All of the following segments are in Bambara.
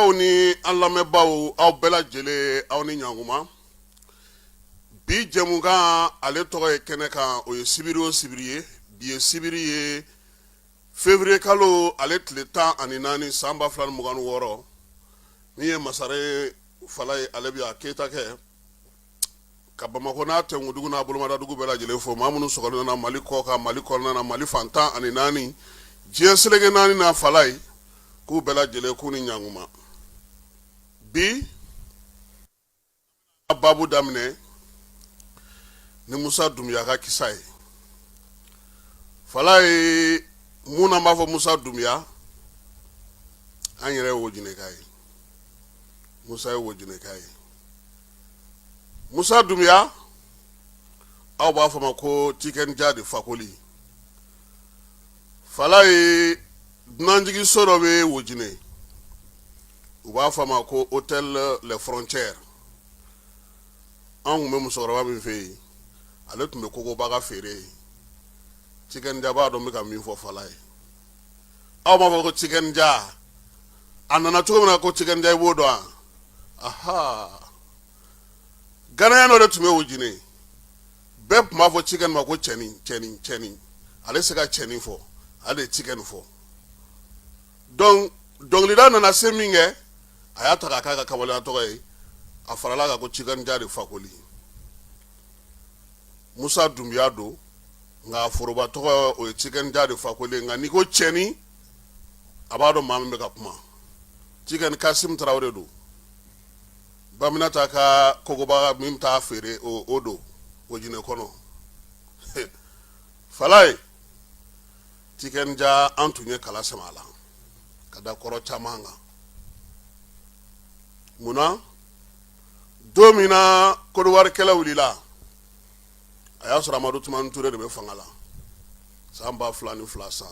aw ni an lamɛnbaaw aw bɛɛ lajɛlen aw ni ɲankuma bi jɛmukan ale tɔgɔ ye kɛnɛ kan o ye sibiri o sibiri ye bi ye sibiri ye fevriye kalo ale tile tan ani naani san ba fila ni mugan ni wɔɔrɔ min ye masaren falayi ale bi a keyita kɛ ka bamakɔ n'a tɛnkudugu n'a bolomadadugu bɛɛ lajɛlen fo maa minnu sɔgɔlen na mali kɔkan mali kɔnɔna na mali fan tan ni naani diɲɛ seleke naani n'a falayi k'u bɛɛ lajɛlen k'u ni ɲankuma bi a babu daminɛ ni musa dunbuya ka kisa ye falayi munna b'a fɔ musa dunbuya an yɛrɛ ye wojineka ye musa ye wojineka ye musa dunbuya aw b'a fɔ a ma ko tikɛn ja de fakoli falayi dunanjigiso dɔ bɛ wojine u b'a fɔ a ma ko hôtel les frontières anw tun bɛ musokɔrɔba min fɛ yen ale tun bɛ kogobaga feere ye tikɛn ja b'a dɔn n bɛ ka min fɔ falayi aw b'a fɔ ko tikɛn ja a nana cogo min na ko tikɛn ja i b'o dɔn wa aha ghanéen dɔ de tun bɛ wojine bɛɛ tun b'a fɔ tikɛn ma ko cɛnin cɛnin cɛnin ale se ka cɛnin fɔ ale de ye tikɛn fɔ donc dɔnkilida nana se min kɛ a y'a ta k'a k'a ka kamalenya tɔgɔ ye a farala kan ko tikɛn ja de fakoli musa dunbuya don nka a foroba tɔgɔ o ye tikɛn ja de fakoli nka n'i ko cɛnin a b'a dɔn maa min bɛ ka kuma tikɛn kasim tarawele don baminata ka kogobaga min t'a feere o don wojine kɔnɔ falayi tikɛn ja an tun ye kala sama a la ka da kɔrɔ caman kan munna don min na kodiwari kɛlɛ wulila a y'a sɔrɔ amadu tumani ture de bɛ fanga la san ba fila ni fila san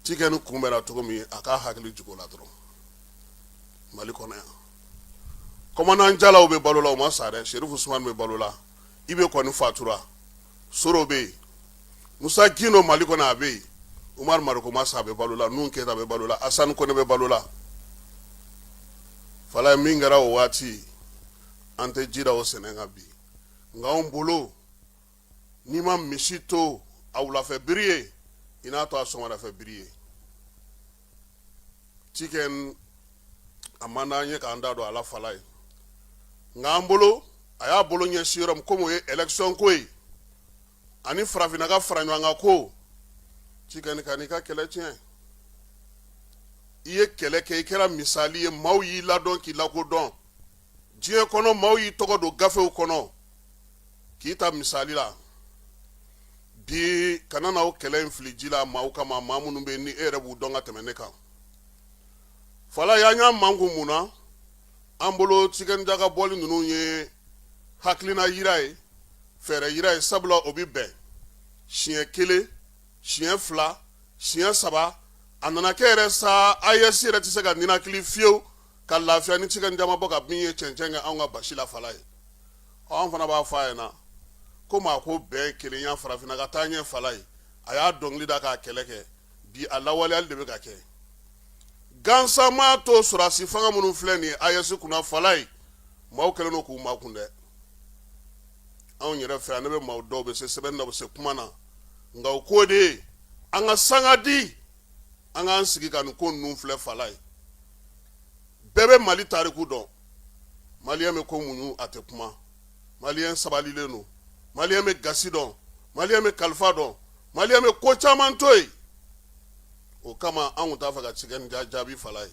tikɛn kunbɛnna cogo min a k'a hakili jigi o la dɔrɔn mali kɔnɔ yan kɔmandan jalaw bɛ balo la u ma sa dɛ serifu usumani bɛ balo la ibe kɔni fatura soro bɛ yen musa gindo mali kɔnɔ a bɛ yen umaru mariko ma sa a bɛ balo la nuhun keyita bɛ balo la asani kɔnɛ bɛ balo la falayi min kɛra o waati an tɛ ji da o sɛnɛ kan bi nka anw bolo n'i ma misi to a wulafɛ biri ye i n'a to a sɔgɔmadafɛ biri ye tikɛn a man d'an ye k'an da don a la falayi nka an bolo a y'a bolo ɲɛsin yɔrɔ min komi o ye election ko ye ani farafinna ka fara ɲɔgɔn kan ko tikɛn kan'i ka kɛlɛ tiɲɛ i ye kɛlɛ kɛ i kɛra misali ye maaw y'i ladɔn k'i lakodɔn diɲɛ kɔnɔ maaw y'i tɔgɔ don gafew kɔnɔ k'i ta misali la bi kana na o kɛlɛ in fili ji la maaw kama maa minnu bɛ yen ni e yɛrɛ b'u dɔn ka tɛmɛ ne kan falayi an y'an makun mun na an bolo tikɛn ja ka bɔli ninnu ye hakilina yira ye fɛɛrɛ yira ye sabula o bɛ bɛn siɲɛ kelen siɲɛ fila siɲɛ saba a nana kɛ yɛrɛ sa aes yɛrɛ tɛ se ka ninakili fiyewu ka lafiya ni tikɛn ja ma bɔ ka bin ye cɛncɛn kɛ anw ka basi la falayi anw fana b'a fɔ a ɲɛ na ko maa ko bɛɛ kelenya farafinna ka taa ɲɛ falayi a y'a dɔnkili da k'a kɛlɛ kɛ bi a lawaleyali de bɛ ka kɛ gansan maa to sɔrɔdasi fanga minnu filɛ nin aes kunna falayi maaw kɛlen don k'u makun dɛ anw yɛrɛ fɛ yan ne bɛ maaw dɔn u bɛ se sɛbɛnni na u bɛ se kuma na nka o ko de ye an ka sanga di an k'an sigi ka nin ko ninnu filɛ falayi bɛɛ bɛ mali tariku dɔn maliyɛn bɛ ko muɲu a tɛ kuma maliyɛn sabalilen don maliyɛn bɛ gasi dɔn maliyɛn bɛ kalifa dɔn maliyɛn bɛ ko caman to yen o kama an tun t'a fɛ ka tikɛn ja jaabi falayi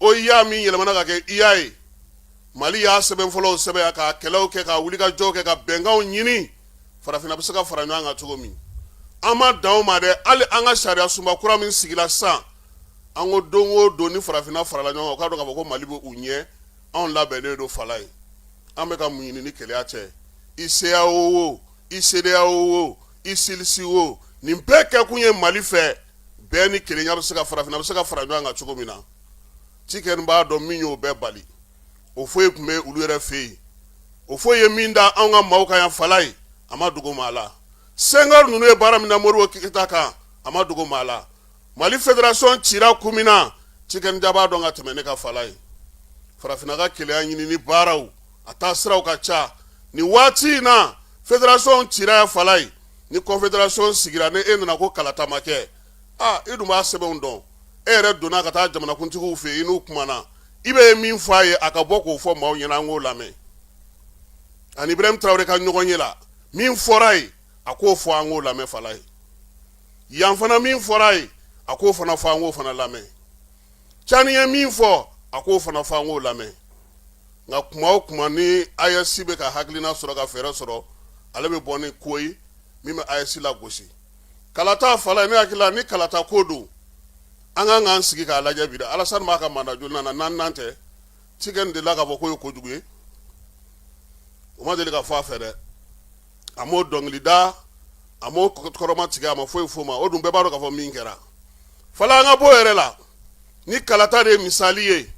oua min yɛlɛmana ka kɛ ua ye mali y'a sɛbɛn fɔlɔw sɛbɛn ka kɛlɛw kɛ ka wulikajɔw kɛ ka bɛnkanw ɲini farafinna bɛ se ka fara ɲɔgɔn kan cogo min an ma dan o ma dɛ hali an ka sariya sunba kura min sigila sisan an ko don o don ni farafinna farala ɲɔgɔn kan u k'a dɔn k'a fɔ ko mali bɛ u ɲɛ anw labɛnnen don falayi an bɛ ka mun ɲini ni kelenya tɛ i ceao o i cedeao o i cilss o nin bɛɛ kɛ kun ye mali fɛ bɛn ni kelenya bɛ se ka farafinna bɛ se ka fara ɲɔgɔn kan cogo min na tikɛn b'a dɔn min y'o bɛɛ bali houphouët tun bɛ olu yɛrɛ fɛ yen houphouët ye min da an ka maaw kan yan falayi a ma dogo maa la senghor ninnu ye baara min na modibo keyita kan a ma dogo maa la mali federation cira kun min na cikɛni ja b'a dɔn ka tɛmɛ ne kan falaye farafinna ka kelenya ɲinini baaraw a taasiraw ka ca nin waati in na federation cira yan falaye ni confederation sigira ni e nana ko kalata ma kɛ a i dun b'a sɛbɛnw dɔn e yɛrɛ donna ka taa jamanakuntigiw fɛ i n'u kumana i bɛ min fɔ a ye a ka bɔ k'o fɔ maaw ɲɛna an k'o lamɛn ani ibrahim tarawele ka ɲɔgɔnye la min fɔra ye a k'o fɔ an k'o lamɛn falaye yan fana min fɔra a ye a k'o fana fɔ an k'o fana lamɛn cani ye min fɔ a k'o fana fɔ an k'o lamɛn nka kuma o kuma ni ayɛsi bɛ ka hakilina sɔrɔ ka fɛɛrɛ sɔrɔ ale bɛ bɔ ni ko ye min bɛ ayɛsi lagosi kalata falaye ne hakili la ni kalata ko don an ka kan k'an sigi k'a lajɛ bi dɛ alasani b'a ka manda jolinan na naaninan tɛ cikɛni delila k'a fɔ k'o ye kojugu ye o ma deli ka fɔ a fɛ dɛ a m'o dɔnkili da a m'o kɔrɔma tigɛ a ma foyi f'o ma o dun bɛɛ b'a dɔn k'a fɔ min kɛra fala an ka b'o yɛrɛ la ni kalata de ye misali ye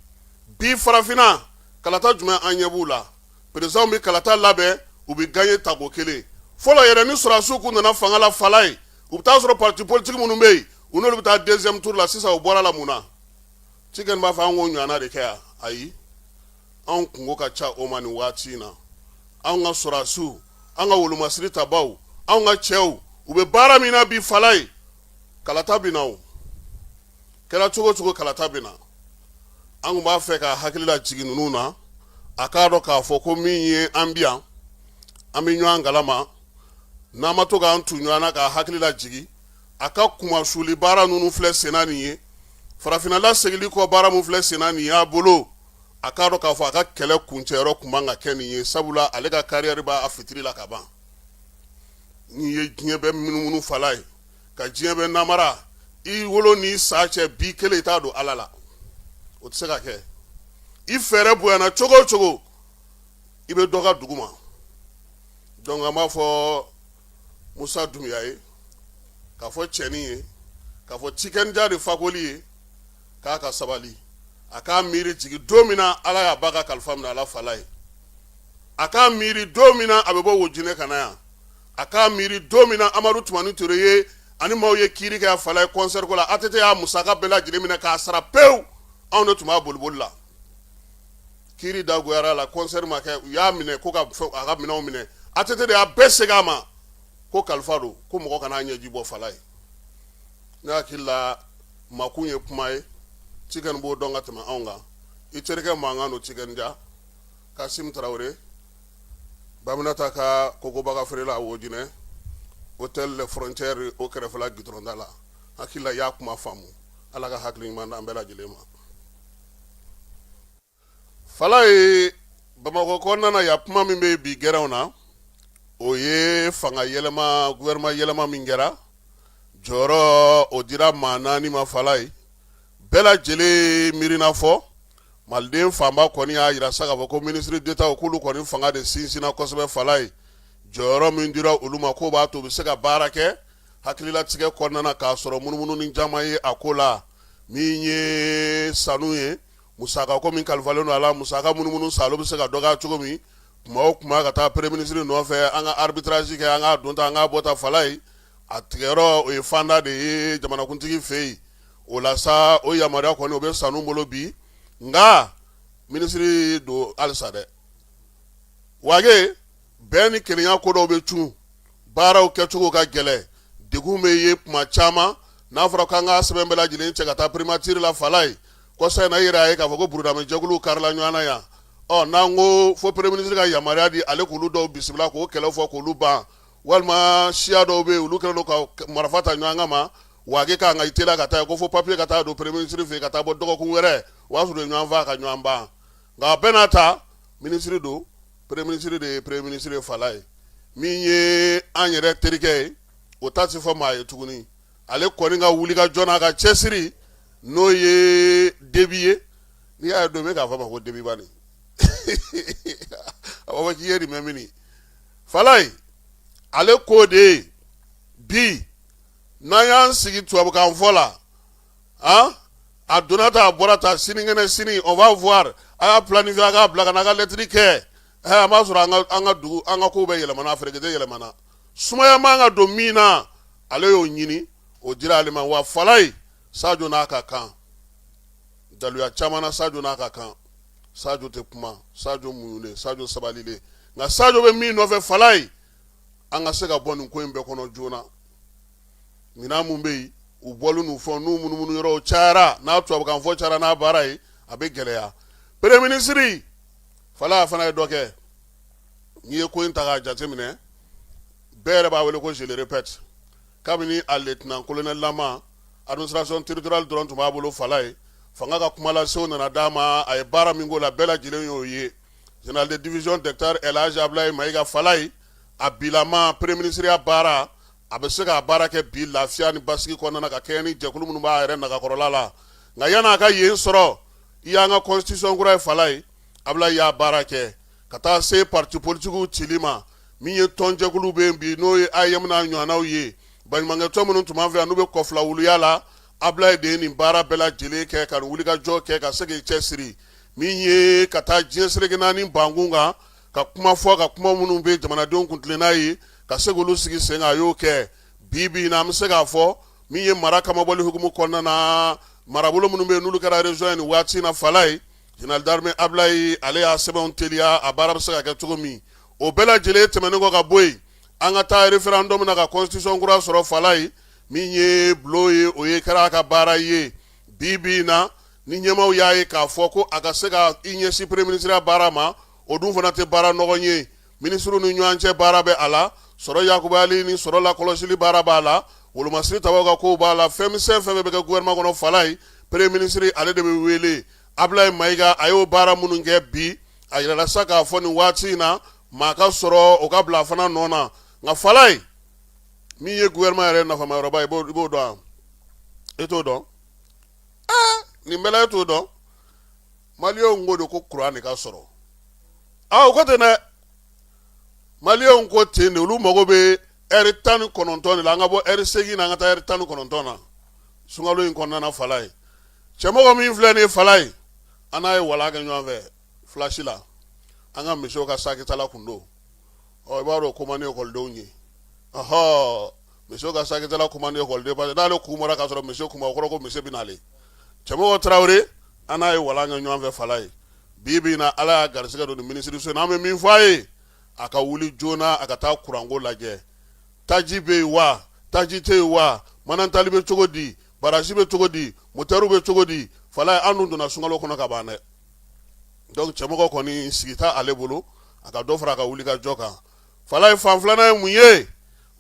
bi farafinna kalata jumɛn an ɲɛ b'u la perezidanw bɛ kalata labɛn u bɛ gaɲe tako kelen fɔlɔ yɛrɛ ni sɔrɔdasiw kun nana fanga la falaye u bɛ taa sɔrɔ parti politique minnu bɛ yen u n'olu bɛ taa deuxième tour la sisan u bɔr'a la mun na cikɛni b'a fɔ an k'o ɲɔgɔnna de kɛ yan ayi anw kunko ka ca o ma nin waati in na anw ka sɔrɔdasiw an ka wolomasiri tabaaw anw ka cɛw u bɛ baara min na bi falaye kalata bɛ na o kɛra cogo o cogo kalata bɛ na an tun b'a fɛ ka hakili lajigin ninnu na a k'a dɔn k'a fɔ ko min ye an bi yan an bɛ ɲɔgɔn kalama n'an ma to k'an tu ɲɔgɔn na k'a hakili lajigin a ka kumasuli baara ninnu filɛ senna nin ye farafinna lasegili kɔ baara min filɛ senna nin y'a bolo a k'a dɔn k'a fɔ a ka kɛlɛ kuncɛyɔrɔ tun man ka kɛ nin ye sabula ale ka kariyɛri b'a fitiri la ka ban n'i ye diɲɛ bɛɛ munumunu falaye ka diɲɛ bɛɛ namara i wolo n'i sa cɛ bi kelen i t'a don ala la o tɛ se ka kɛ i fɛɛrɛ bonyana cogo o cogo i bɛ dogo duguma dɔnku an b'a fɔ musa dunbuya ye k'a fɔ cɛnin ye k'a fɔ cikɛni ja de fakoli ye k'a ka sabali a k'a miiri jigin don min na ala y'a ba ka kalifa minɛ a la falaye a k'a miiri don min na a bɛ bɔ wojinɛ ka na yan a k'a miiri don min na amadu tumani ture ye ani maaw ye kiiri kɛ a falaye kɔnsɛriko la atete y'a musaka bɛɛ lajɛlen minɛ k'a sara pewu anw de tun b'a boliboli la kiiri dagoyar'a la kɔnsɛri ma kɛ u y'a minɛ ko k'a ka minɛnw minɛ atete de y'a bɛɛ segin a ma ko kalifa don ko mɔgɔ kana ɲɛji bɔ falaye ne hakili la makun ye kuma ye tiken b'o dɔn ka tɛmɛ anw kan i terikɛ mankan don tiken jah kasim tarawele baminata ka kokobaga feerela wojinɛ hôtel les frontières o kɛrɛfɛla gitɔrɔn da la hakili la i y'a kuma faamu ala ka hakili ɲuman d'an bɛɛ lajɛlen ma falayi bamakɔ kɔnɔna na yan kuma min bɛ bi gɛrɛnw na o ye fanga yɛlɛma gouvernement yɛlɛma min kɛra jɔyɔrɔ o dira maa naani ma falayi bɛɛ lajɛlen miirina fɔ maliden fanba kɔni y'a yira sa k'a fɔ ko ministre d'Etat k'olu kɔni fanga de sinsinna kosɛbɛ falayi jɔyɔrɔ min dira olu ma k'o b'a to u bɛ se ka baara kɛ hakililatigɛ kɔnɔna na k'a sɔrɔ munumununi caman ye a ko la min ye sanu ye musaka ko min kalifalen don a la musaka munumunu sa o bɛ se ka dɔgɔya cogo min o kuma ka taa premier ministre nɔfɛ an ka arbitrage kɛ an ka donta an ka bɔta falayi a tigɛyɔrɔ o ye fanda de ye jamanakuntigi fɛ yen o la sa o yamaruya kɔni o bɛ sanu bolo bi nka ministre don halisa dɛ wage bɛn ni kelenya ko dɔw bɛ cun baaraw kɛcogo ka gɛlɛn degun bɛ yen tuma caman n'a fɔra k'an ka sɛbɛn bɛɛ lajɛlen cɛ ka taa primature la falayi kɔsa in na i yɛrɛ y'a ye k'a fɔ ko burudamɛ jɛkuluw karila ɲɔgɔn na yan ɔ n'an ko fo premier ministre ka yamaruya di ale k'olu dɔw bisimila k'o kɛlɛ fɔ k'olu ban walima siya dɔw bɛ yen olu kɛlen don ka k- marifa ta ɲɔgɔn kan ma wage ka kan ka i teliya ka taa yen ko fo papier ka taa don premier ministre fɛ yen ka taa bɔ dɔgɔkun wɛrɛ o y'a sɔrɔ u ye ɲɔgɔn faa ka ɲɔgɔn ban nka a bɛɛ n'a ta ministre don premier ministre de ye premier ministre falayi min ye an yɛrɛ terikɛ ye o ta tɛ fɔ maa ye tuguni ale kɔni ka wulikajɔ n'a ka cɛsiri n'o ye debi ye n'i y'a ye don bɛɛ k'a fɔ ma ko debi bani a b'a fɔ k'i ye nin mɛn mini falayi ale ko de bi n'an y'an sigi tubabukan fɔ la a a donna ta a bɔra ta sinikɛnɛ sini on va voir a y'a planifié a k'a bila ka n'a ka lɛtiri kɛ an b'a sɔrɔ an ka dugu an ka ko bɛɛ yɛlɛmana ferekete yɛlɛmana sumaya man ka don min na ale y'o ɲini o dira ale ma wa falayi sajo n'a ka kan daluya caman na sajo n'a ka kan sajo tɛ kuma sajo muɲunen sajo sabalilen nka sajo bɛ min nɔfɛ falayi an ka se ka bɔ nin ko in bɛɛ kɔnɔ joona minɛn mun bɛ yen u bɔlen n'u fɛnw n'u munumunu yɔrɔw cayara n'a tubabukan fɔ cayara n'a baara ye a bɛ gɛlɛya premier ministre falayi a fana ye dɔ kɛ n'i ye ko in ta k'a jateminɛ bɛɛ yɛrɛ b'a wele ko je le répète kabini a lieutenant colonel lama administration territoriale dɔrɔn tun b'a bolo Falaye fanga ka kumalase o nana d'a ma a ye baara min k'o la bɛɛ lajɛlen y'o ye général de division docteur El Hadji Abilaye Mayiga Falaye a bilama premier minisiriya baara a bɛ se k'a baara kɛ bi lafiya ni basigi kɔnɔna ka kɛɲɛ ni jɛkulu minnu b'a yɛrɛ nagakɔrɔla la nka yann'a ka yen sɔrɔ i y'an ka constitution kura ye Falaye Abilaye y'a baara kɛ ka taa se parti politikiw cili ma min ye tɔnjɛkulu bɛ yen bi n'o ye AEEM n'a ɲɔgɔnnaw ye baɲumankɛtɔn minnu tun b'an fɛ yan n'u bɛ kɔfilawuliya la Abilaye de ye nin baara bɛɛ lajɛlen kɛ ka nin wulikajɔ kɛ ka se k'i cɛsiri min ye ka taa diɲɛ seleke naani bankun kan ka kuma fɔ ka kuma minnu bɛ jamanadenw kun tilenna ye ka se k'olu sigi sen kan a y'o kɛ bi bi in na an bɛ se k'a fɔ min ye mara kamabɔli hukumu kɔnɔna na marabolo minnu bɛ yen n'olu kɛra région ye nin waati na Falaye Général d'armée Abilaye ale y'a sɛbɛnw teliya a baara bɛ se ka kɛ cogo min o bɛɛ lajɛlen tɛmɛnen kɔ ka bɔ yen an ka taa référendum na ka constitution kura sɔrɔ Falaye min ye bulon ye o ye kɛra a ka baara ye bi bi in na ni ɲɛmaaw y'a ye k'a fɔ ko a ka se ka i ɲɛsin premier minisiriya baara ma o dun fana tɛ baara nɔgɔn ye Minisiriw ni ɲɔgɔn cɛ baara bɛ a la, sɔrɔ yakubali ni sɔrɔ lakɔlɔsili baara b'a la, wolomasiri tabaw ka kow b'a la, fɛnmisɛn fɛn fɛn bɛ kɛ gouvernement kɔnɔ Falaye, premier minisiri ale de bɛ weele. Abilaye Mayiga a y'o baara minnu kɛ bi, a yirala sa k'a fɔ nin waati in na, maa ka sɔrɔ o ka bila a fana nɔ na. Nka Falaye, min ye gouvernement yɛrɛ nafamayɔrɔba ye, i b'o dɔn wa? E t'o dɔn? Ee! Nin bɛɛ la e t'o dɔn? maliyɛnw ko de ko kuran de ka sɔrɔ aa ko ten dɛ maliyɛnw ko ten de olu mago bɛ eri tan ni kɔnɔntɔn de la an ka bɔ eri seegin na an ka taa eri tan ni kɔnɔntɔn na sunkalo in kɔnɔna Falaye Cɛmɔgɔ min filɛ nin Falaye an n'a ye wala kɛ ɲɔgɔn fɛ FLASH la an ka monsieur ka sakitala kun don ɔ i b'a dɔn ko man di ekɔlidenw ye ɔhɔ monsieur ka sakitala ko man di ekɔliden parce que n'ale kun bɔra k'a sɔrɔ monsieur kun ma o kɔrɔ ko monsieur bɛ n'ale Cɛmɔgɔ Tarawele an n'a ye wala kɛ ɲɔgɔn fɛ Falaye bi bi in na ala y'a garisɛgɛ don nin minisiri so in n'an bɛ min fɔ a ye a ka wuli joona a ka taa kuranko lajɛ taji bɛ yen wa taji tɛ yen wa manantali bɛ cogo di barasi bɛ cogo di motɛriw bɛ cogo di Falaye an dun donna sunkalo kɔnɔ ka ban dɛ donc Cɛmɔgɔ kɔni sigi t'a ale bolo a ka dɔ fara a ka wulikajɔ kan Falaye fan filanan ye mun ye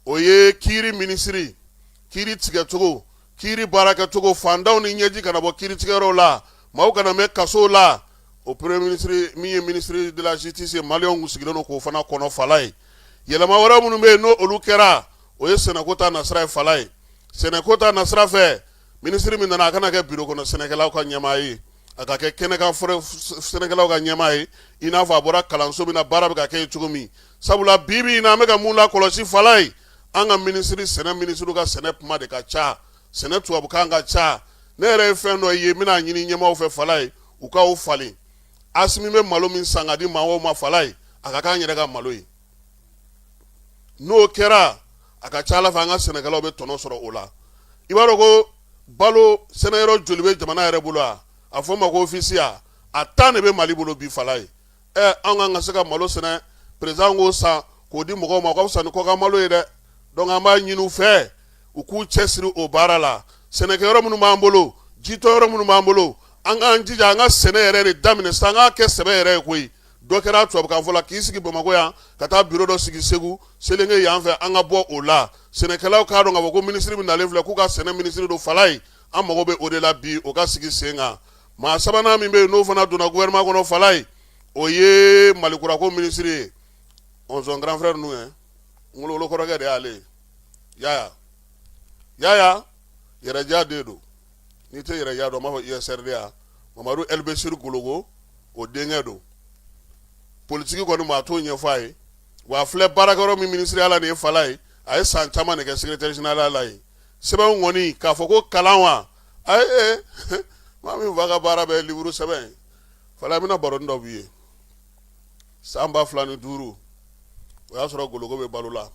o ye kiiri minisiri kiiri tigɛcogo kiiri baarakɛcogo fantanw ni ɲɛji kana bɔ kiiri tigɛyɔrɔw la maaw kana mɛn kasow la o premier minisiri min ye minisiri de la justice ye maliyɛnw kun sigilen don k'o fana kɔnɔ Falaye yɛlɛma wɛrɛ minnu bɛ yen n'o olu kɛra o ye sɛnɛko ta nasira ye Falaye sɛnɛko ta nasira fɛ minisiri min nana a kana kɛ biro kɔnɔ sɛnɛkɛlaw ka ɲɛmaa ye a ka kɛ kɛnɛkan sɛnɛkɛlaw ka ɲɛmaa ye i n'a fɔ a bɔra kalanso min na baara bɛ ka kɛ cogo min sabula bi bi in na an bɛ ka mun lakɔlɔsi falaye an ka minisiri sɛnɛ minisiriw ka sɛnɛ kuma de ka ca sɛnɛ tubabukan ka ca ne yɛrɛ ye fɛn dɔ ye n bɛna a ɲini ɲɛmaaw fɛ falaye u k'o falen asimi bɛ malo min san ka di maaw ma falaye a ka k'an yɛrɛ ka malo ye n'o kɛra a ka ca ala fɛ an ka sɛnɛkɛlaw bɛ tɔnɔ sɔrɔ o la i b'a dɔn ko balo sɛnɛyɔrɔ joli bɛ jamana yɛrɛ bolo a fɔ ma ko ofisi ya a tan de bɛ mali bolo bi falaye ɛ an kan ka se ka malo sɛnɛ peresidan k'o san k'o di mɔgɔw ma o ka fisa ni kɔkan malo ye dɛ dɔnku an b'a ɲini u fɛ u k'u cɛsiri o baara la sɛnɛkɛyɔrɔ minnu b'an bolo jitɔyɔrɔ minnu b'an bolo an k'an jija an ka sɛnɛ yɛrɛ de daminɛ sisan an k'a kɛ sɛbɛ yɛrɛ ye koyi dɔ kɛra tubabukan fɔ la k'i sigi bamakɔ yan ka taa biro dɔ sigi segu selenge yan fɛ an ka bɔ o la sɛnɛkɛlaw k'a dɔn k'a fɔ ko minisiri min nalen filɛ k'u ka sɛnɛ minisiri don falaye an mago bɛ o de la bi o ka sigi sen kan maa sabanan min bɛ yen n'o fana donna gouvernement kɔnɔ falaye o ye malikurako minisiri ye ɔ son grand frère n'u ye gologo kɔrɔkɛ de y'ale ye yaya RDA den don n'i tɛ RDA dɔn n b'a fɔ US-RDA mamadu ɛlibesiri gologo o denkɛ don politigi kɔni maa t'o ɲɛfɔ a ye wa filɛ baarakɛyɔrɔ min minisiriya la nin ye falaye a ye san caman de kɛ secrétaire général la yen sɛbɛn kɔni k'a fɔ ko kalan wa a ye maa min fa ka baara bɛ liwuru sɛbɛn falaye n bɛna baro dɔ b'i ye san ba fila ni duuru o y'a sɔrɔ gologo bɛ balo la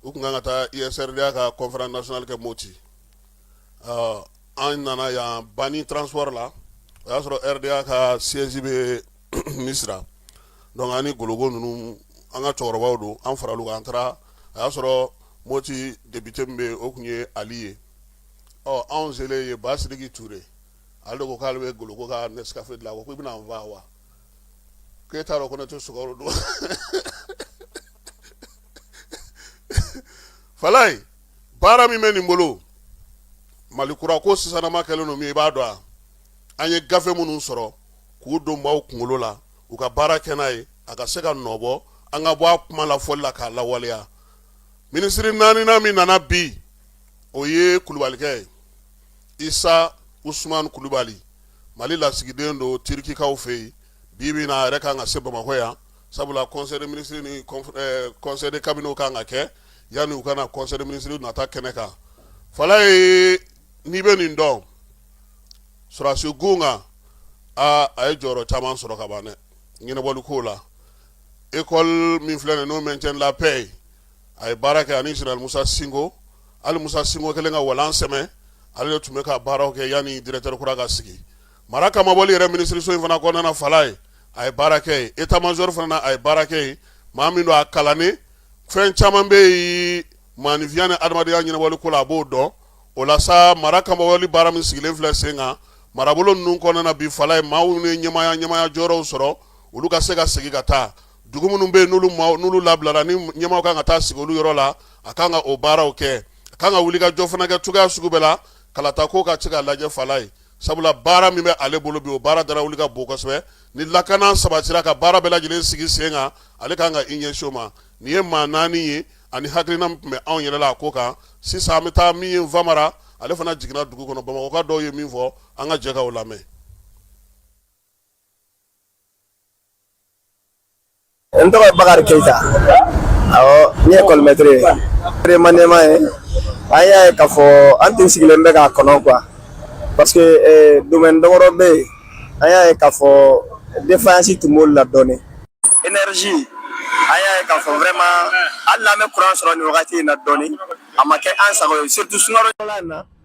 u tun kan ka taa US-RDA ka conférence nationale kɛ moti ɔ an nana yan Bani transport la o y'a sɔrɔ RDA ka siège bɛ Misira donc an ni Gologo ninnu an ka cɛkɔrɔbaw don an faral'u kan an taara a y'a sɔrɔ Moti député min bɛ yen o tun ye Ali ye ɔ anw selen yen Ba Sidiki Ture ale de ko k'ale bɛ Gologo ka Nescafe dilan a ko k'i bɛna n faa wa k'e t'a dɔn ko ne tɛ sukaro dun wa Falaye baara min bɛ nin bolo mali kura ko sisanama kɛlen don min i b'a dɔn a an ye gafe minnu sɔrɔ k'u don maaw kunkolo la u ka baara kɛ n'a ye a ka se ka nɔ bɔ an ka bɔ a kuma la fɔli la k'a lawaleya minisiri naaninan min nana bi o ye kulubalikɛ ye isa usman kulubali mali lasigiden don tirikikaw fɛ yen bi bi in na a yɛrɛ ka kan ka se bamakɔ yan sabula conseil des ministres ni conseil de cabinet kan ka kɛ yanni u ka na conseil des ministres nata kɛnɛ kan falaye n'i bɛ nin dɔn sɔrɔdasiw kunda aa a ye jɔyɔrɔ caman sɔrɔ ka ban dɛ ɲɛnabɔli ko la école min filɛ n'o maintien de la paix ye a ye baara kɛ ani général musa sinko ali musa sinko kelen ka walan sɛ ale de tun bɛ ka baaraw kɛ yanni directeur kura ka sigi mara kamabɔli yɛrɛ minisiriso in fana kɔnɔna falaye a ye baara kɛ yen etamazɔrɔ fana a ye baara kɛ yen maa min don a kalannen fɛn caman bɛ yen maanifinya ni adamadenya ɲɛnabɔli ko la a b'o dɔn o la sa mara kamabɔli baara min sigilen filɛ sen kan marabolo ninnu kɔnɔna bi falaye maa minnu ye ɲɛmaya ɲɛmaya jɔyɔrɔw sɔrɔ olu ka se ka sigi ka taa dugu minnu bɛ yen n'olu maaw n'olu labilara ni ɲɛmaaw kan ka taa sigi olu yɔrɔ la a kan ka o baaraw kɛ a kan ka wuli ka jɔ fana kɛ cogoya sugu bɛɛ la kalata ko ka se ka lajɛ falaye sabula baara min bɛ ale bolo bi o baara da wuli ka bon kosɛbɛ ni lakana sabatira ka baara bɛɛ lajɛlen sigi sen kan ale kan ka i ɲɛsin o ma nin ye maa naani ye ani hakilina min tun bɛ anw yɛrɛ la a ko kan sisan an bɛ taa min ye nfamara ale fana jiginna dugu kɔnɔ bamakɔka dɔw ye min fɔ an ka jɛ ka o lamɛn n tɔgɔ ye bakari keyita awɔ ne ye ekɔlimɛtiri ye peremaniɛma ye an y'a ye k'a fɔ an tun sigilen bɛ k'a kɔnɔ quoi parce que eh, domaine damadɔ bɛ yen an y'a ye k'a fɔ défaillance tun b'olu la dɔɔnin énergie an y'a ye k'a fɔ vraiment hali n'an bɛ kuran sɔrɔ nin wagati in na dɔɔnin a ma kɛ an sago ye surtout sunkalo in na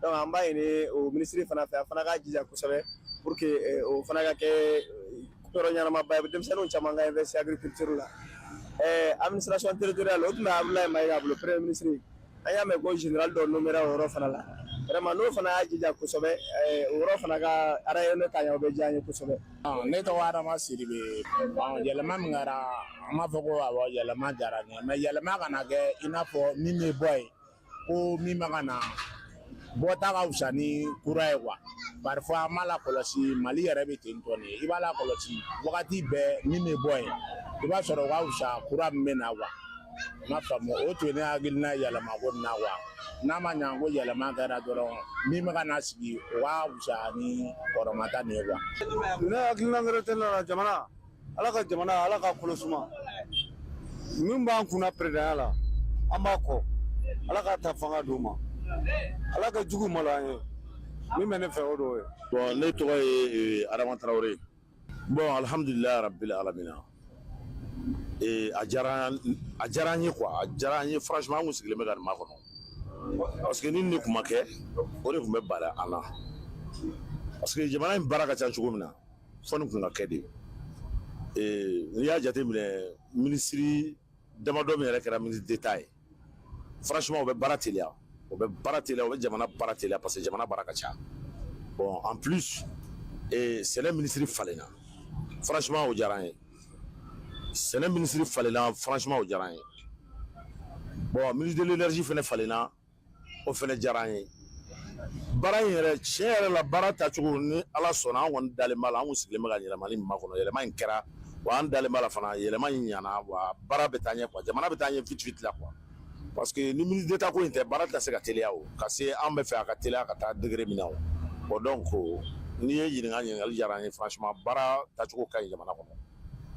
donc an b'a ɲini o minisiri fana fɛ a fana k'a jija kosɛbɛ pour que eh, o fana ka kɛ eh, yɔrɔ ɲɛnamaba ye denmisɛnninw caman ka investir agriculture la eh, administration territoriale o tun bɛ abulayi mayiga bolo premier ministre an y'a mɛn ko général dɔ nommera o yɔrɔ fana la vraiment n'o fana y'a jija kosɛbɛ o yɔrɔ fana ka rayonner ka ɲɛ o bɛ diya an ye kosɛbɛ ne tɔgɔ adama sidibe yɛlɛma min kɛra an b'a fɔ ko awɔ yɛlɛma diyara n ye mais yɛlɛma kana kɛ i n'a fɔ min bɛ bɔ yen ko min bɛ ka na bɔta ka fisa ni kura ye quoi parfois an b'a lakɔlɔsi mali yɛrɛ bɛ ten tɔ de i b'a lakɔlɔsi wagati bɛɛ min bɛ bɔ yen i b'a sɔrɔ o ka fisa kura min bɛ na quoi n m'a faamu o tun ye ne hakilina yɛlɛma ko nin na quoi n'a ma ɲa ko yɛlɛma kɛra dɔrɔn min bɛ ka na sigi o ka fisa ni kɔrɔmata nin ye quoi ne hakilina wɛrɛ tɛ ne la jamana ala ka jamana ala ka kolo suma min b'an kunna peresidanya la an b'a kɔ ala k'a ta fanga d'u ma ala ka jugu malo an ye min bɛ ne fɛ o dɔw ye bon ne tɔgɔ ye adama tarawele bon alhamdulilayi rabbil alamina a diyara a diyara an ye quoi a diyara an ye franchement an kun sigilen bɛ ka nin makɔnɔ parce que ni nin de kun ma kɛ o de kun bɛ bala an na parce que jamana in baara ka ca cogo min na fɔ nin kun ka kɛ de n'i y'a jate minɛ ministre damadɔ min yɛrɛ kɛra ministre d'état ye franchement o bɛ baara teliya o bɛ baara te o bɛ jamana baara teliya parce que jamana baara ka ca bon en plus sɛnɛ ministre falenna franchement o diyara an ye sɛnɛ ministre falenna franchement o diyara an ye bon ministre de l'énergie fana falenna o fana diyara an ye baara in yɛrɛ tiɲɛ yɛrɛ la baara tacogo ni ala sɔnna an kɔni dalen b'a la an sigilen bɛ ka yɛlɛma min makɔnɔ yɛlɛma in kɛra wa an dalen b'a la fana yɛlɛma in ɲana wa baara bɛ taa ɲɛ quoi jamana bɛ taa ɲɛ vite vite la quoi parce que ni ministre d'état ko in tɛ baara tɛ se ka teliya o ka se an bɛ fɛ a ka teliya ka taa degré min na o bon donc n'i ye ɲininka ɲininkali diyara an ye franchement baara tacogo ka ɲi jamana kɔnɔ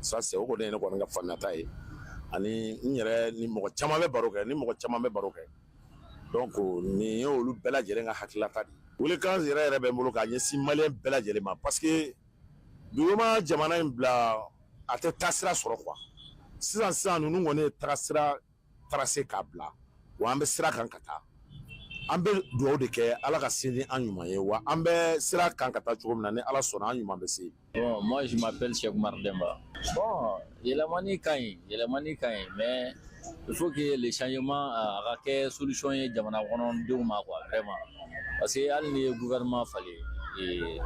ça c'est o kɔni ye ne kɔni ka faamuyata ye ani n yɛrɛ ni mɔgɔ caman bɛ baro kɛ ni mɔgɔ caman bɛ baro kɛ donc nin ye olu bɛɛ lajɛlen ka hakililata de ye weelekan yɛrɛ yɛrɛ bɛ n bolo k'a ɲɛsin maliyɛn bɛɛ lajɛlen ma parce que dugu ma jamana in bila a tɛ tagasira sɔrɔ quoi sisan sisan ninnu kɔni ye tagasira tracé k'a bila wa an bɛ sira kan ka taa an bɛ dugawu de kɛ ala ka se ni an ɲuman ye wa an bɛ sira kan ka taa cogo min na ni ala sɔnna an ɲuman bɛ se bon moi je m'appelle Cheikh Oumar Demba bon yɛlɛmani ka ɲi yɛlɛmani ka ɲi mais il faut que le changement a ka kɛ solution ye jamana kɔnɔdenw ma quoi vraiment parce que hali n'i ye gouvernement falen ee,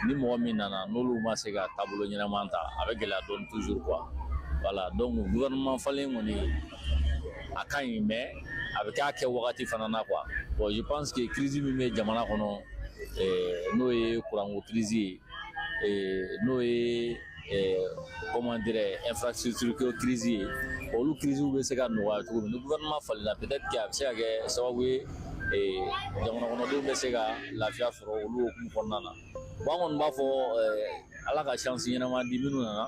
ni mɔgɔ min nana n'olu ma se ka taabolo ɲɛnama ta a bɛ gɛlɛya dɔɔni toujours quoi voilà donc gouvernement falen kɔni a ka ɲi mais a bɛ ka kɛ wagati fana na quoi bon je pense que crise min bɛ jamana kɔnɔ ee, n'o ye kuranko crise ye ee, n'o ye comment dirais infrastructure ko crise ye olu crise bɛ se ka nɔgɔya cogo min ni gouvernement falenna peut-être que a bɛ se ka kɛ sababu ye jamana kɔnɔdenw bɛ se ka lafiya sɔrɔ olu hukumu kɔnɔna na bon an kɔni b'a fɔ ala ka chance ɲɛnama di minnu nana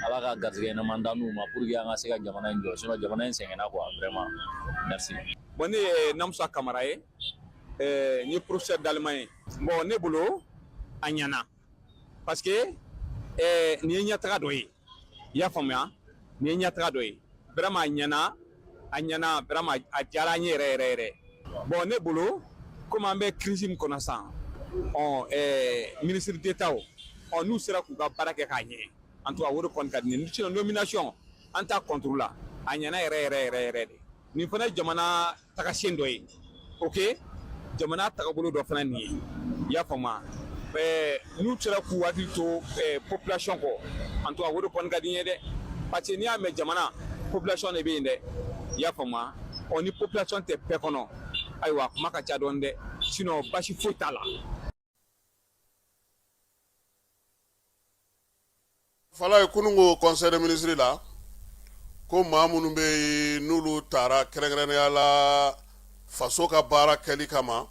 ala ka garisɛgɛ ɲɛnama dan u ma pour que an ka se ka jamana in jɔ sinon jamana in sɛgɛnna quoi vraiment merci. bon ne ye Namusa Kamara ye n ye professeur d'allemand ye bon ne bolo a ɲɛna. parce que ɛɛ nin ye ɲɛtaga dɔ ye i y'a faamuya nin ye ɲɛtaga dɔ ye vraiment a ɲɛna a ɲɛna vraiment a diyara an ye yɛrɛ yɛrɛ yɛrɛ bon ne bolo comme an bɛ crise min kɔnɔ sisan ɔ ɛɛ ministre d'état o ɔ n'u sera k'u ka baara kɛ k'a ɲɛ en tout cas o de kɔni ka di ne ye sinon nomination an t'a contre la a ɲɛna yɛrɛ yɛrɛ yɛrɛ yɛrɛ de nin fana ye jamana tagasen dɔ ye ok jamana tagabolo dɔ fana nin ye i y'a faamuya ɛɛ n'u sera k'u hakili to ɛɛ population kɔ en tout cas o de kɔni ka di n ye dɛ parce que n'i y'a mɛn jamana population de bɛ yen dɛ i y'a faamuya ɔ ni population tɛ paix kɔnɔ ayiwa kuma ka ca dɔɔni dɛ sinon basi foyi t'a la. fala ye kunun ko conseil des ministres la ko maa minnu bɛ yen n'olu taara kɛrɛnkɛrɛnnenya la faso ka baara kɛli kama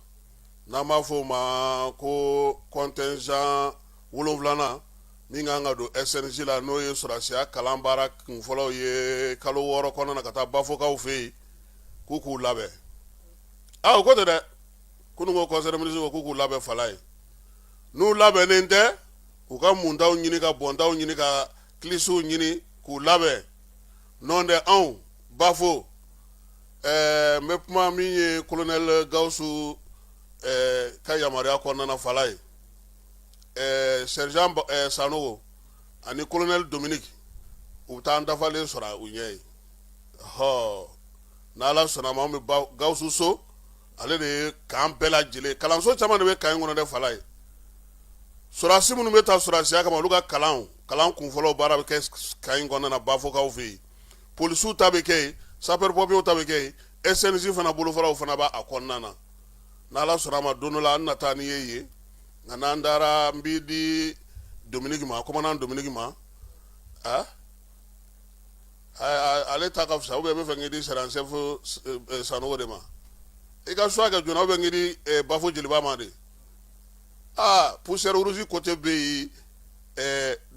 n'an b'a fɔ o ma ko contingent wolonwulanan min kan ka don SNJ la n'o ye sɔrɔsiya kalan baara kunfɔlɔw ye kalo wɔɔrɔ kɔnɔna na ka taa bafokaw fɛ yen k'u k'u labɛn a o ko tɛ dɛ kunun ko conseil des ministres ko k'u k'u labɛn fala ye n'u labɛnnen tɛ u ka muntaw ɲini ka bɔntaw ɲini ka kilisiw ɲini k'u labɛn nɔntɛ anw bafo ɛɛ n bɛ kuma min ye colonel gawusu ɛɛ ka yamaruya kɔnɔna fala ye ɛɛ sergent Ba- ɛɛ sanogo ani colonel dominique u bɛ taa an dafalen sɔrɔ u ɲɛ ye hɔ n'ala sɔnna ma anw bɛ ba- gawusu so ale de ye k'an bɛɛ lajɛlen kalanso caman de bɛ camp in kɔnɔ dɛ fala ye sɔrɔsi minnu bɛ taa sɔrɔsiya kama olu ka kalan kalan kunfɔlɔ baara bɛ kɛ camp in kɔnɔna na bafokaw fɛ yen polisiw ta bɛ kɛ sapeur pompierw ta bɛ kɛ yen SNJ fana bolofaraw fana b'a kɔnɔna na n'ala sɔnna ma don dɔ la an na taa n'i ye yen nka n'an taara n b'i di dominique ma commandant dominique ma ale ta ka fisa u bɛ bɛ fɛ di sara sefo sanu de ma i ka su kɛ jɔn bɛ bafo jeliba ma de aa psɛrisi ko tɛ bɛ yen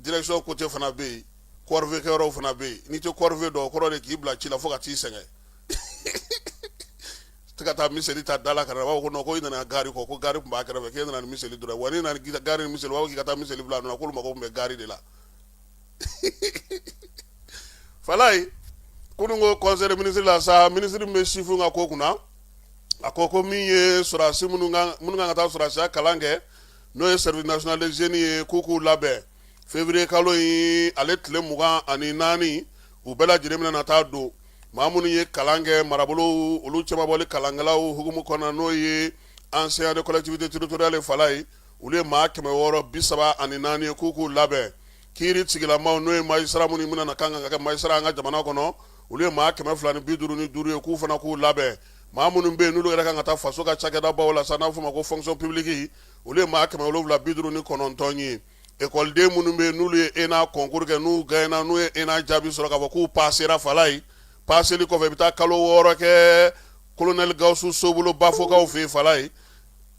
jinɛso ko tɛ fana bɛ yen kɔrɔɔrikɛ fana bɛ yen n'i tɛɔrɔɔri dɔn kɔrɔ de k'i bila ci la fo ka t'i sɛgɛn ka taa misiri ta da la ka b'a ko ko i nana gari kɔ ko gari tun b' kɛrɛfɛ fɛ e nana mili dɔrɔn wa nana gari misi b'a' ka taa misi bila a nana ko mako bɛ gari de la fala ye kunun ko conseil des ministres la sa ministre min bɛ sifinw ka ko kunna a ko ko min ye sɔrɔsi minnu kan ka taa sɔrɔsiya kalan kɛ n'o ye service national des jeunes ye k'u k'u labɛn février kalo in ale tile mugan ani naani u bɛɛ lajɛlen bɛna na taa don maa minnu ye kalan kɛ marabolow olu cɛmabɔli kalankɛlaw hukumu kɔnɔna n'o ye enseignant de collectivité territoriale fala ye olu ye maa kɛmɛ wɔɔrɔ bi saba ani naani ye k'u k'u labɛn kiiri sigilama n'o ye magistrat minnu minnu na kan kan ka kɛ magistrat an ka jamana kɔnɔ olu ye maa kɛmɛ fila ni bi duuru ni duuru ye k'u fana k'u labɛn maa minnu bɛ yen n'olu yɛrɛ kan ka taa faso ka cakɛda baw la sa n'a fɔ ma ko fonction publique olu ye maa kɛmɛ wolonwula bi duuru ni kɔnɔntɔn ye ekɔliden minnu bɛ yen n'olu ye ENA concours kɛ n'u gagnera n'u ye ENA jaabi sɔrɔ k'a fɔ k'u passera fala ye passeli kɔfɛ i bɛ taa kalo wɔɔrɔ kɛ colonel gawusu so bolo bafokaw fɛ fala ye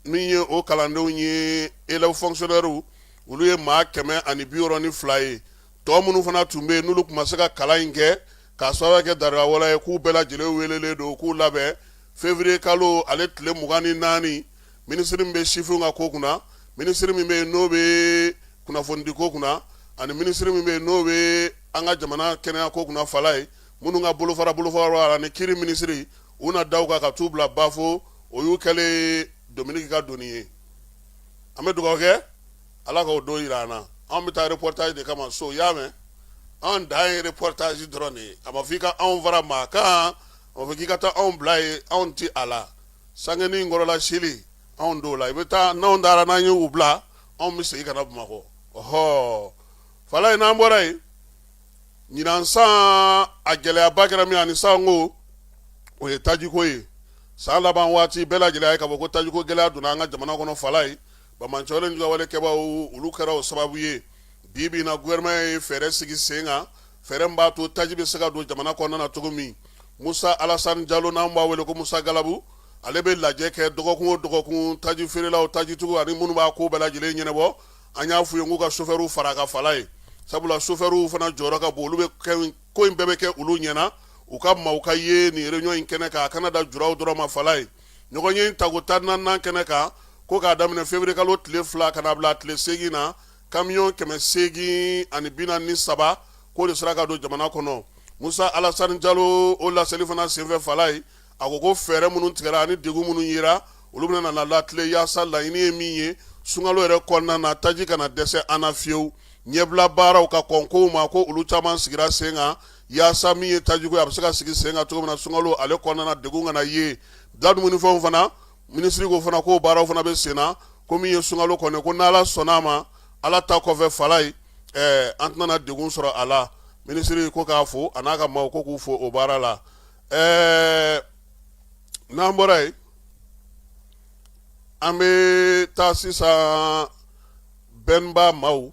min ye o kalandenw ye élèves fonctionnaires olu ye maa kɛmɛ ani bi wɔɔrɔ ni fila ye tɔ minnu fana tun bɛ yen n'olu tun ma se ka kalan in kɛ k'a sɔrɔda kɛ dawawale ye k'u bɛɛ lajɛlen welelen don k'u labɛn février kalo ale tile mugan ni naani minisiri min bɛ sifinw ka ko kunna minisiri min bɛ yen n'o bɛ kunnafonidi ko kunna ani minisiri min bɛ yen n'o bɛ an ka jamana kɛnɛya ko kunna falaye minnu ka bolofara bolofara ni kiri minisiri u na da u kan ka taa u bila bafo o y'u kɛlen Dominik ka doni ye an bɛ dugawu kɛ Ala k'o don jira an na anw bɛ taa reportage de kama so i y'a mɛn anw dan ye reportage dɔrɔn de ye a ma fɔ i ka anw fara maa kan a ma fɔ k'i ka taa anw bila yen anw tɛ a la sangenin kɔrɔla sili anw t'o la i bɛ taa n'anw taara n'an ye u bila anw bɛ segin ka na Bamakɔ ɔhɔɔ Falaye n'an bɔra yen ɲinan san a gɛlɛyaba kɛra min ani salon o ye tajiko ye san laban waati bɛɛ lajɛlen ye k'a fɔ ko tajiko gɛlɛya donna an ka jamana kɔnɔ falaye banbaanci ni juguwale kɛbaaw olu kɛra o sababu ye bi bi in na gouvernement ye fɛɛrɛ sigi sen kan fɛɛrɛ min b'a to taji bɛ se ka don jamana kɔnɔna na cogo min musa alasani jalo n'an b'a wele ko musa galabu ale bɛ lajɛ kɛ dɔgɔkun o dɔgɔkun taji feerelaw tajitigiw ani minnu b'a ko bɛɛ lajɛlen ɲɛnabɔ an y'a f'u ye k'u ka chauffeurw fara a kan falaye sabula chauffeurw fana jɔyɔrɔ ka bon olu bɛ kɛ ko in bɛɛ bɛ kɛ olu ɲɛna u ka maaw ka ye nin réunion in kɛnɛ kan a kana dan juraw dɔrɔn ma falaye ɲɔgɔnye in tako tan naaninan kɛnɛ kan ko k'a daminɛ février kalo tile fila ka na bila tile seegin na camion kɛmɛ seegin ani bi naani ni saba k'o de sera ka don jamana kɔnɔ musa alasani jalo o laseli fana senfɛ falaye a ko ko fɛɛrɛ minnu tigɛra ani degun minnu yera olu bɛna na latilen yaasa laɲini ye min ye sunkalo yɛrɛ kɔnɔna na taji kana dɛsɛ an na fiyewu ɲɛbila baaraw ka kɔn kow ma ko olu caman sigira sen kan yaasa min ye tajiko ye a bɛ se ka sigi sen kan cogo min na sunkalo ale kɔnɔna na degun kana ye da dumunifɛnw fana minisiri ko fana ko baaraw fana bɛ sen na ko min ye sunkalo kɔnɔ ko n' ala sɔnna a ma ala ta kɔfɛ falaye an tɛna degun sɔrɔ a la minisiri ko k'a fo a n'a ka maaw ko k'u fo o baara la ɛɛ n'an bɔra yen an bɛ taa sisan bɛnba maaw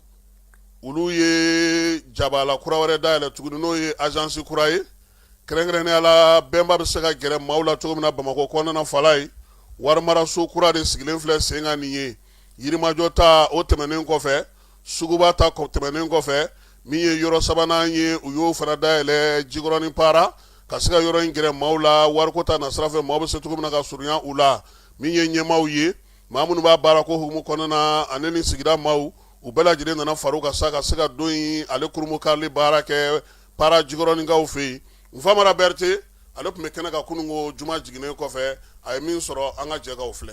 olu ye jabala kura wɛrɛ dayɛlɛ tuguni n'o ye azansi kura ye kɛrɛnkɛrɛnnenya la bɛnba bɛ se ka gɛrɛ maaw la cogo min na bamakɔ kɔnɔna falaye warimaraso kura de sigilen filɛ sen kan nin ye yirimajɔ ta o tɛmɛnen kɔfɛ suguba ta tɛmɛnen kɔfɛ min ye yɔrɔ sabanan ye u y'o fana dayɛlɛ jikɔrɔnin para ka se ka yɔrɔ in gɛrɛ maaw la wariko ta nasira fɛ maaw bɛ se cogo min na ka surunya u la min ye ɲɛmaaw ye maa minnu b'a baara ko hukumu kɔnɔna na ani ni sigida maaw u bɛɛ lajɛlen nana far'u kan sa ka se ka don in ale kurunbonkarili baara kɛ para jikɔrɔninkaw fɛ yen nfamara berete ale tun bɛ kɛnɛ kan kununko juma jiginnen kɔfɛ a ye min sɔrɔ an ka jɛ k'o filɛ